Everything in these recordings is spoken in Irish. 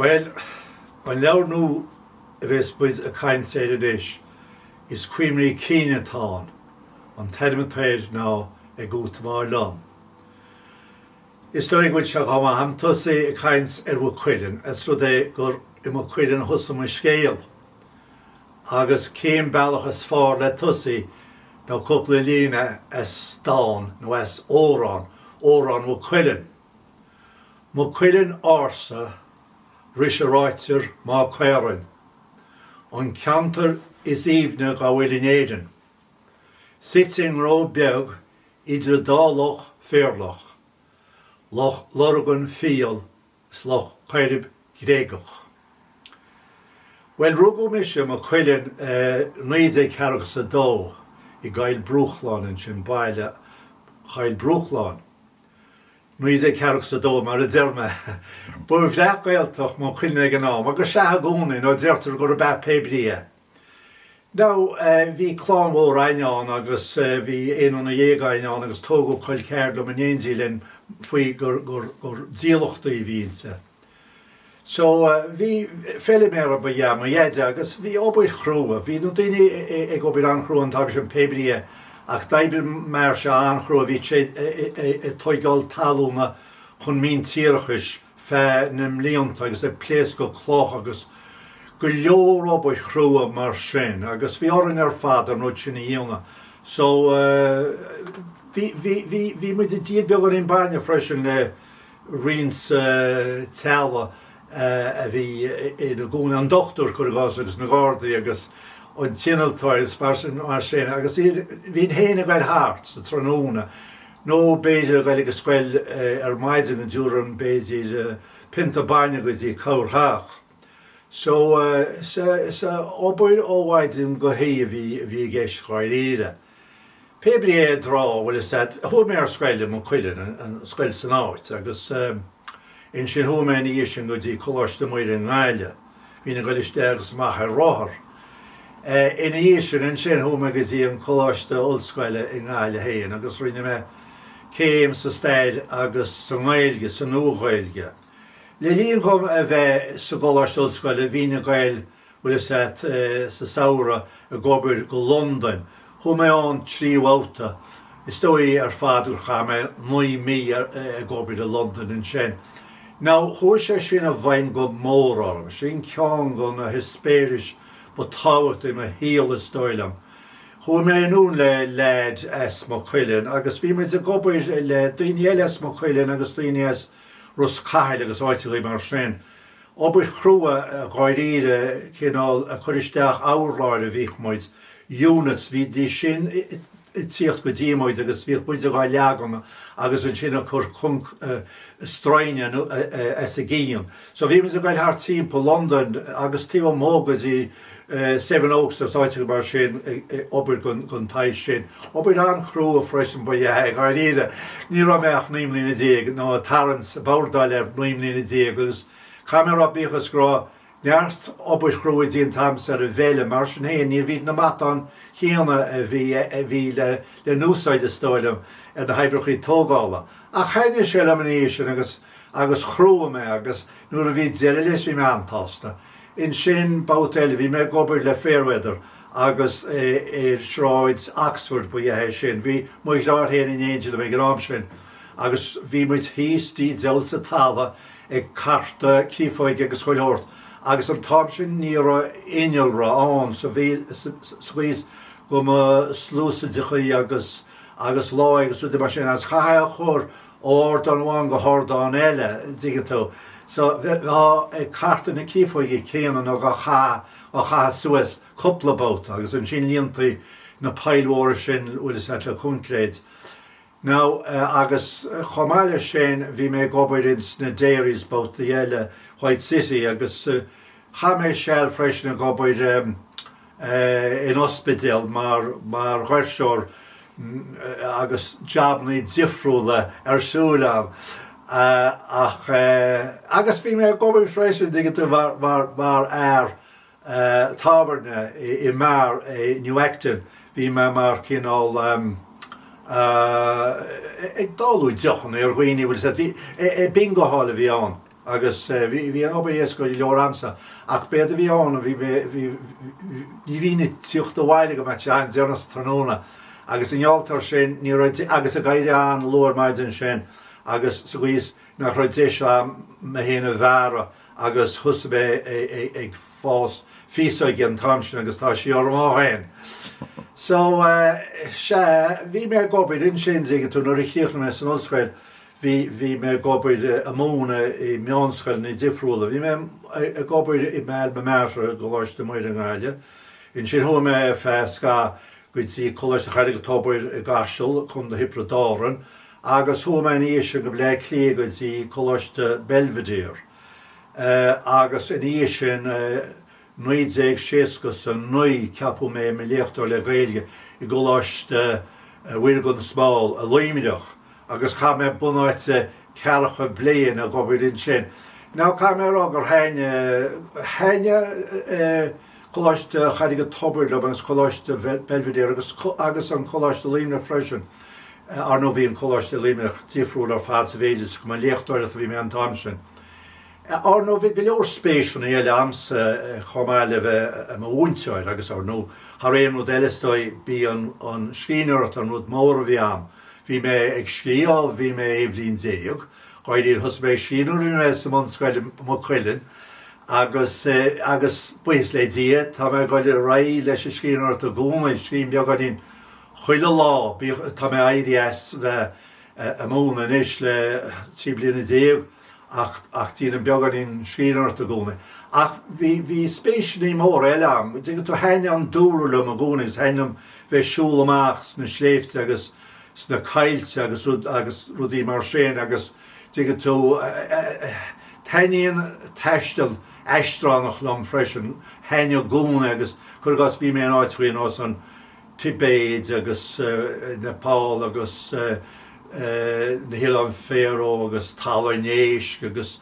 Bhuel, an leabhar nua a bheas muid ag caint air anois, is cuimhní cinn atá ann, an t-ainm atá air ná Ag Útamáil Liom. Is dóigh go bhfuil sé chomh maith agam tosaí ag caint ar Mhaigh Cuilinn, os rud é gur i Maigh Cuilinn a thosaigh mo scéal, agus cén bealach is fearr le tosaí ná cúpla líne as dán, nó as amhrán, Amhrán Mhaigh Cuilinn. Maigh Cuilinn ársa ris a ráitear Má Caorainn, an ceantar is aoibhne dá bhfuil in Éirinn. suite i nGnó Beag idir dá loch phéarlach, Loch Lurgan fial is Loch Coirib gréagach. Bhuel, rugadh mise, i Maigh Cuilinn, 1942, i gCoill Bhruachláin, ansin Baile Choill Bhruachláin, 1942, mar a deir mé. Ba bhreac-Ghaeltacht Maigh Cuilinn ag an am, agus is ea i gcónaí, nó deirtear gurb ea pé brí é. Now, bhí clann mhór a'inn ann agus bhí aon nduine dhéag a'inn ann agus tógadh col ceathar liom in éindí linn faoi gur, gur, gur dílleachtaí a bhí inti. So, bhí, feiliméara ba ea mo dheaide agus bhí obair chrua, bhí na daoine ag obair an-chrua an t-am sin pé brí é ach d'oibrigh m'athairse an-chrua, bhí sé ag tóigeáil talúna chun míntíreachais, feadh na mblianta agus ag pléascadh cloch agus go leor obair chrua mar sin agus bhí orainn ar fad an rud sin a dhéanamh so bhí, bhí, bhí, bhí muid ag díol beagán bainne freisin le roinnt teaghlaigh a bhí ina gcónaí, an dochtúir cuir i gcás agus na gardaí agus an t-innealtóir is mar sin, mar sin agus bhí, bhínn féin ag goil thart sa tráthnóna. Nó b'fhéidir ag goil chuig an scoil ar maidin go dtabharfainn b'fhéidir pionta bainne go dtí corrtheach. So is obair ó mhaidin go hoíche a bhí a bhí i gceist dháiríre. Pé brí é a dtrá, bhfuil 'fhios a't, chuaigh mé ar scoil i Maigh Cuilinn, an scoil san áit, agus ansin chuaigh mé ina dhiaidh sin go dtí Coláiste Muire i nGaillimh. Bhínn ag goil isteach agus amach ar rothar. Ina dhiaidh sin, ansin, chuaigh mé go dtí an Coláiste Ollscoile i nGaillimh féin agus rinne mé céim sa Stair agus sa nGaeilge, sa Nua-Ghaeilge. Le linn dhom a bheith sa gColáiste Ollscoile, bhínn ag goil, bhfuil 'fhios a't, sa samhradh ag obair go Londain, Chuaigh mé ann trí bhabhta. Is dóigh ar fad gur chaith mé naoi mí ag obair i Londain ansin. Now, chuaigh sé sin i bhfeidhm go mór orm. Sin ceann de na heispéiris ba tábhachtaí i mo shaol, is dóigh liom. Chuaigh mé anonn le leaid as Maigh Cuilinn agus bhí muid ag obair le daoine eile as Maigh Cuilinn agus daoine as Ros Cathail agus áiteachaí mar sin. Obair chrua, dháiríre, cineál cur isteach urláir a bhíodh muid, units, bhídís sin ag tíocht go dtí muid agus bhíodh muide dhá leagan agus ansin ag cur coincréit, stroighne as a gcionn. So bhí muid ag goil thart timpeall Londain agus taobh amuigh go dtí Seven Oaks is áiteachaí mar sin ag obair don tsaghas sin. Obair an-chrua freisin ab ea é dháiríre. Ní raibh mé ach naoi mbliana déag, nó ag tarraingt, ag bordáil air, naoi mbliana déag, agus caithfidh mé a rá, bíodh is go raibh neart obair chrua déanta agamsa ar an bhfeilm, mar sin féin níorbh iad na matáin chéanna a bhí le n-úsáid, is dóigh liom, ar na hoibreachaí tógála. Ach thaithnigh sé liom ina dhiaidh sin agus chruaigh mé agus nuair a bhí deireadh leis bhí mé an-tsásta. Ansin babhta eile bhí mé ag obair le Fairweather agus ar Shráid Oxford ab ea é sin. Bhí mo dheartháir féin in éindí liom ag an am sin agus bhí muid thíos tigh diabhail sa talamh ag cartadh créafóige agus chuile shórt agus an t-am sin ní raibh innealra ann so bhí sa gcaoi is go mba sluasaideachaí agus láí agus rudaí mar sin agus chaithfeá a chur ardán amháin go hardán eile, dtuigeann tú. So, bheifeá ag cartadh na créafóige céanna nó dhá caitheamh suas cúpla babhta agus ansin líontaí na poill mhóra sin uilig le coincréit. Now, agus chomh maith leis sin bhí mé ag obair in sna dairies babhta eile i White City agus chaith mé seal freisin ag obair in ospidéal, mar dhoirseoir agus jabannaí difriúla ar siúl ann ach agus bhí mé ag obair freisin dtuigeann tú mar fhear tábhairne i mbeár i New Acton, bhí mé mar cineál ag dáileadh deochanna ar dhaoine bhfuil a fhios agat, bingo hall a bhí ann. agus bhí an obair éasca go leor agamsa ach b'éard a bhí ann, bhí mé, ní bhínn ag tíocht abhaile go mbeadh sé an-deireanach sa tráthnóna agus i ngeall air sin ní raibh, agus ag éirí an-luath ar maidin ansin agus sa gcaoi is nach raibh deis agam mé féin a bhearradh agus thosaigh mé ag fás féasóg an t-am sin agus tá sí orm ó shin. So, sea, bhí mé ag obair ansin, tuigeann tú, nuair a chríochnaigh mé san ollscoil, bhí, bhí mé ag obair ag múineadh i meánscoileanna difriúla. Bhí mé ag obair i m'alma mater, i gColáiste Muire i nGaillimh. Ansin chuaigh mé ar feadh scaithimh go dtí Coláiste Charraig an Tobair i gCaiseal, Co. Thiobraid Árann, agus chuaigh mé ina dhiaidh sin go Bleá Cliath go dtí Coláiste Belvedere. Eh, agus ina dhiaidh sin eh. 1969 ceapadh mé i mo léachtóir le Gaeilge i gColáiste Mhuire gan Smál i Luimneach agus chaith mé bunáite ceathracha bliain ag obair ansin. Now caithfidh mé a rá gur thaitnigh, thaitnigh Coláiste Charraig an Tobair liom agus Coláiste Belvedere agus, agus an Coláiste i Luimneach freisin, ar ndóigh bhí an Coláiste i Luimneach difriúil ar fad sa mhéid is go mba ag léachtóireacht a bhí mé an t-am sin. Ar ndóigh, bhí go leor spéiseanna eile agamsa chomh maith le bheith i mo mhúinteoir agus, ar ndóigh, thar aon rud eile is dóigh, b'í an scríbhneoireacht an rud mór a bhí a'm. Bhí mé ag scríobh ó bhí mé aon bhliain déag, dháiríre, thosaigh mé ag scríobh nuair a bhí mé sa mbunscoil i Maigh Cuilinn agus, agus buíochas le Dia, tá mé ag dul ar aghaidh leis an scríbhneoireacht i gcónaí, scríobhaim beagáinín chuile lá, bíodh, tá mé éirithe as bheith ag múineadh anois le trí bliana déag. ach déanaim beagáinín scríbhneoireacht i gcónaí. Ach bhí spéiseannaí móra eile agam, an dtuigeann tú, thaitnigh an dúlra liom i gcónaí agus thaitnigh liom bheith ag siúl amach sna sléibhte agus sna coillte agus rud, agus rudaí mar sin agus dtuigeann tú, taitníonn taisteal aistreánach liom freisin, thaitnigh i gcónaí agus, cuir i gcás, bhí mé in áiteachaí ar nós an, Tibéid agus Nepal agus na hOileáin Fharó agus Talamh an Éisc agus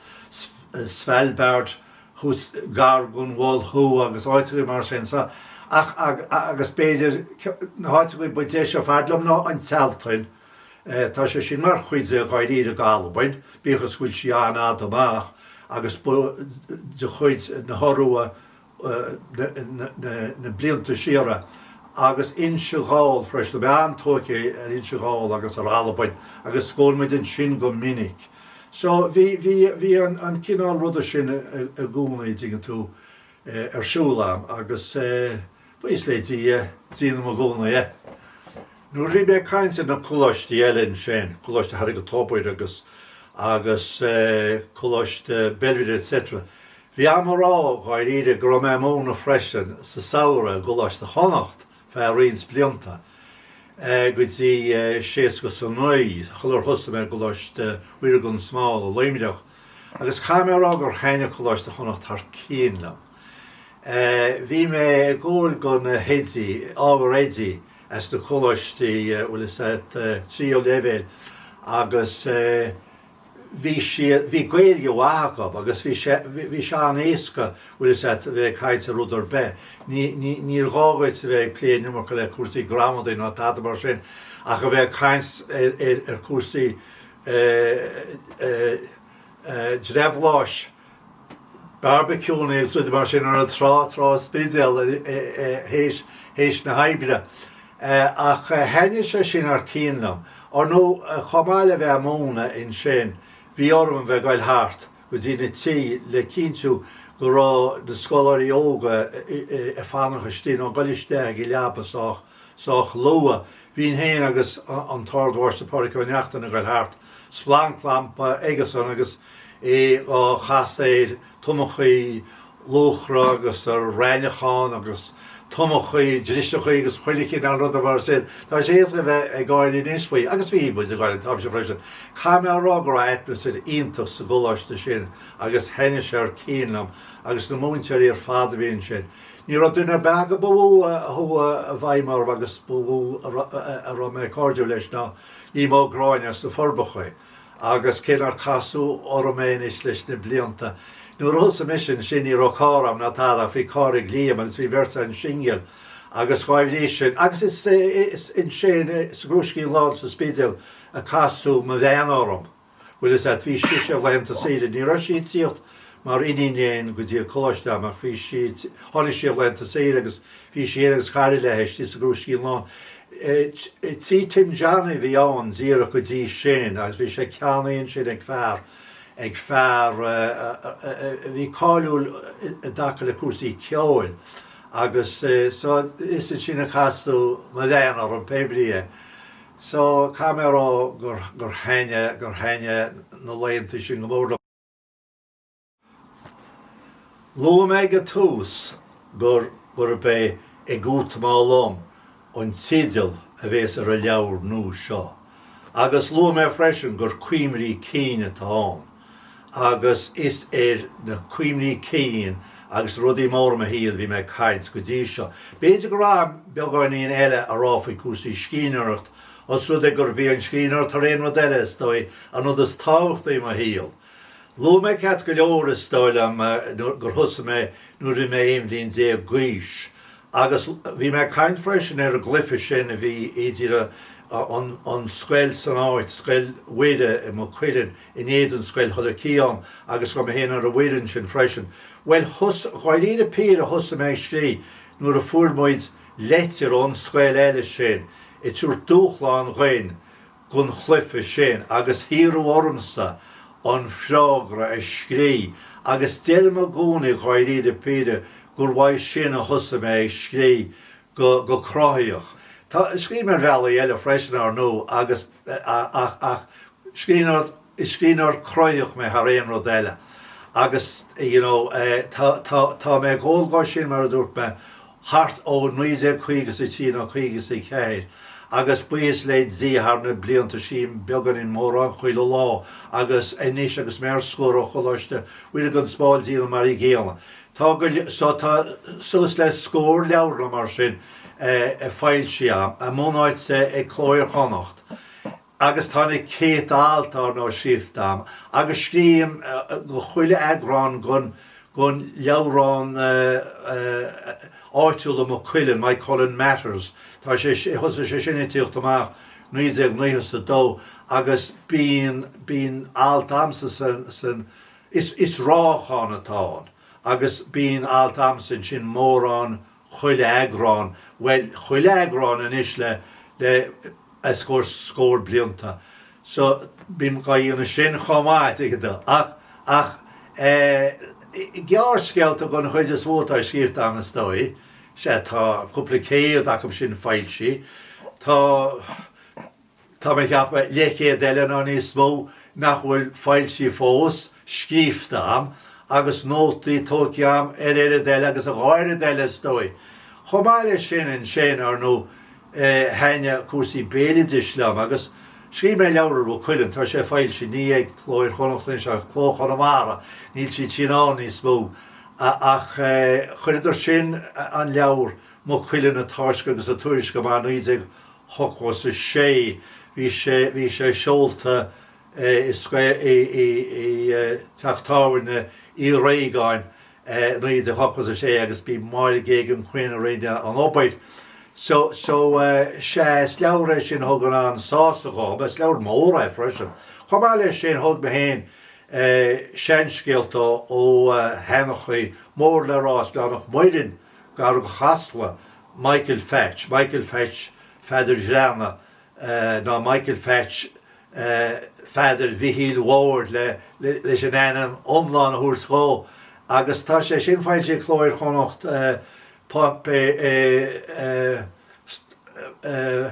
Svalbard thuas gar gon Mhol Thuaidh agus áiteachaí mar sin sa ach agus b'fhéidir na háiteachaí ba deise ar fad liom ná an tSealtainn. Tá sé sin mar chuid de, dháiríre, de Albain, bíodh is go bhfuil sí an-fhada amach agus de chuid na hIorua na blianta siar agus Inse Ghall freisin. Bhí an-tóir againn ar Inse Ghall agus ar Albain agus scaoil muid ansin go minic. So bhí, bhí, bhí an cineál ruda sin i gcónaí, dtuigeann tú, ar siúl a'm agus buíochas le Dia, déanaim i gcónaí é. Nuair a bhí mé ag caint ar na coláistí eile ansin, Coláiste Charraig an Tobair agus, agus Coláiste Belvedere etc. Bhí a'm a rá dháiríre go raibh mé ag múineadh freisin sa samhradh i gColáiste Chonnacht feadh roinnt blianta, go dtí séasca is a naoi, sular thosaigh mé i gColáiste Mhuire Gan Smál i Luimneach, agus caithfidh mé a rá gur thaitnigh Coláiste Chonnacht thar cionn liom. Bhí mé ag goil do na hoidí, ábhar oidí as na coláistí, bhfuil 'fhios a'd, tríú leibhéal agus, bhí sí, bhí Gaeilge mhaith acu agus bhí sé, bhí sé an-éasca, bhfuil 'fhios a'd, a bheith ag caint ar rud ar bith. Ní, ní, níor ghá dhuit a bheith ag plé an iomarca le cúrsaí gramadaí ná tada mar sin ach a bheith ag caint ar, ar, ar cúrsaí eh, eh, eh, drabhláis, Beárbaiciúnna agus rudaí mar sin ar an trá, Trá an Spidéil, théis na hoibre. Ach thaitnigh sé sin thar cionn liom. Ar ndó, chomh maith le bheith ag múineadh ansin, bhí orm a bheith ag dul thart go dtí na tithe le cinntiú go raibh na scoláirí óga ag fanacht istigh nó ag dul isteach ag an leaba sách sách luath. Bhínn féin agus an tArd-Mháistir Pádraig Ó Neachtain ag goil thart, splanclampa aigesan agus é á chasadh ar thomachaí luachra agus ar raithneachán agus tomachaí driseachaí agus chuile chineál ruda mar sin. Tá sé éasca a bheith ag gáire anois faoi agus bhí muid ag gáire an t-am sin freisin. Caithfidh mé a rá go raibh atmaisféar iontach sa gcoláiste sin agus thaitin sé thar cionn liom agus na múinteoirí ar fad a bhí ansin. Ní raibh duine ar bith acu ba mhó a chuaigh i bhfeidhm orm agus ba mhó a raibh mé cairdiúil leis ná Liam Ó Gráinne as na Forbacha agus cé nár casadh orm é anois leis na blianta, nuair a thosaigh mise ansin ní raibh carr agam ná tada ach bhí carr ag Liam agus bhí an bheirt a'inn singil agus dhá bhrí sin agus is ansin sa gCrúiscín Lán sa Spidéal a casadh mo bhean orm. Bhfuil 'fhios a'd, bhí sise laethanta saoire, ní raibh sí ag tíocht mar iníon léinn go dtí an coláiste a'm ach bhí sí, tháinig sí ar laethanta saoire agus bhí sí fhéin agus cara léi istigh sa gCrúiscín Lán, tí Tim Johnny a bhí ann díreach go dtí sin agus bhí sé ceannaithe ansin ag fear, ag fear a bhí cáiliúil i dtaca le cúrsaí ceoil agus so is ansin a casadh mo bhean orm pé brí é. So, caithfidh mé a rá gur, gur thaitnigh, gur thaitnigh na laethanta sin go mór liom. Luaigh mé ag an tús gur, gurb é Ag Útamáil Liom an teideal a bhéas ar an leabhar nua seo. Agus luaigh mé freisin gur cuimhní cinn atá ann. agus is ar na cuimhní cinn agus rudaí móra mo shaoil a bhí mé ag caint go dtí seo. B'fhéidir go raibh beagáinín eile a rá faoi cúrsaí scríbhneoireacht, os rud é gurb í an scríbhneoireacht thar aon rud eile, is dóigh, an rud is tábhachtaí i mo shaol. Luaigh mé ceart go leor, is dóigh liom, gur thosaigh mé nuair a bhí mé aon bhliain déag d'aois, agus bhí mé ag caint freisin ar an gcluiche sin a bhí idir an scoil san áit, Scoil Mhuire i Maigh Cuilinn, in éadan Scoil Thulaigh Mhic Aodháin agus go raibh mé féin ar an bhfoireann sin freisin. Bhuel, dháiríre píre thosaigh mé ag scrí nuair a fuair muid leitir ón scoil eile sin ag tabhairt dúshlán dhúinn gon chluiche sin agus hiarradh ormsa an freagra a scrí agus deirim i gcónaí dháiríre píre gur uaidh sin a thosaigh mé ag scrí go cruthaitheach. Tá, scríobh mé ar bhealaí eile freisin, ar ndó, agus, ach, ach, scríbhneoir, is scríbhneoir cruthaitheach mé thar aon rud eile agus you know tá, tá, tá mé ag gabháil dó sin mar a dúirt mé thart ó naoi déag caoga is a trí nó caoga is a ceathair agus buíochas le Dia thar na blianta scríobhaim beagáinín mórán chuile lá agus anois agus mé ar scor ó Choláiste Mhuire gan Smál díreach mar a gcéanna tá go, so tá suas le scór leabhar nó mar sin foilsithe agam a mbunáite ag Cló Iar-Chonnacht agus tá na céadta alt ar ndóigh scríofa agam agus scríobhaim do chuile eagrán den leabhrán áitiúil Maigh Cuilinn, Moycullen Matters, tá sé, thosaigh sé sin ag tíocht amach naoi déag naocha is a dó agus bíonn, bíonn alt agamsa san, san, is, is ráitheachán atá ann agus bíonn alt agamsa ansin mórán chuile eagrán, bhuel, chuile eagrán anois le, le a scór, scór blianta. So, bím dhá dhéanamh sin chomh maith, tuigeann tú. Ach, ach, eh, gearrscéalta den chuid is mó atá scríofa a'm, is dóigh, sea, tá cúpla céad acub sin foilsithe. Tá, Tá mé ag ceapadh leithchéad eile nó níos mó nach bhfuil foilsithe fós, scríofa a'm, agus nótaí tógtha a'm ar oiread eile agus a dhá oiread eile, is dóigh. Chomh maith leis sin, ansin, ar ndóigh, thaitin cúrsaí béaloidis liom, agus scríobh mé leabhar ar Mhaigh Cuilinn, tá sé foilsithe, ní ag Cló Iar Chonnacht anois ach ag Cló Chonamara, níl siad sin ann níos mó, ach chuireadar sin, an leabhar, Maigh Cuilinn, a táisc agus a tuairisc amach 19 Ochtó is a sé bhí sé seolta i scoil i dTeach Tábhairne Uí Réagáin 1986 agus b'í Máire Geoghegan Quinn a rinne an obair. So so sea is leabhar é sin a thug an an-sásamh dhom. Is leabhar mór é freisin. Chomh maith leis sin thóg mé féin seanscéalta ó sheanchaí mór le rá as Gleann Mhac Muirinn, gar do Chasla, Michael Pheaits, Michael Pheaits Pheadair Ghleanna, nó Michael Pheaits Pheadair Mhichíl Bhoird leis an ainm iomlán a thabhairt dhó, agus tá sé sin foilsithe ag Cló Iar-Chonnacht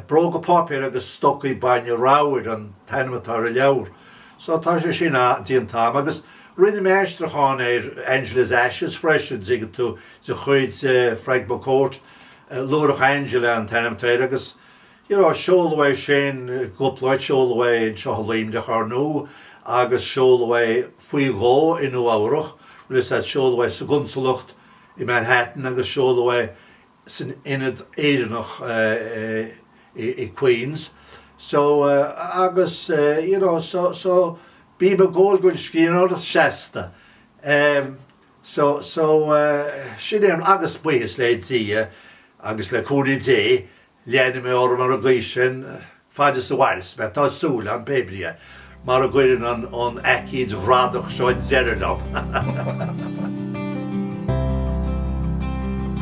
Bróga Páipéir agus Stocaí Bainne Ramhair an t-ainm atá ar an leabhar. So tá sé sin déanta am. Agus rinne mé aistriúchán ar Angela's Ashes freisin, an dtuigeann tú, de chuid Frank McCourt, Luaithreach Angela an t-ainm air agus you know seoladh é sin cúpla áit seoladh é anseo i Luimneach ar ndóigh agus seoladh é faoi dhó i Nua-Eabhrac rud is ea seoladh é sa gconsalacht i Manhattan agus seoladh é san ionad Éireannach i Queens so agus you know so so bím ag gol don scríbhneoireacht seasta. So, so, sin é an, agus buíochas le Dia agus le cúnamh Dé, leanfaidh mé orm ar an gcaoi sin fad is a mhaireas mé, tá súil agam, pé brí, mara gcuireann an, an aicíd bhradach seo deireadh liom.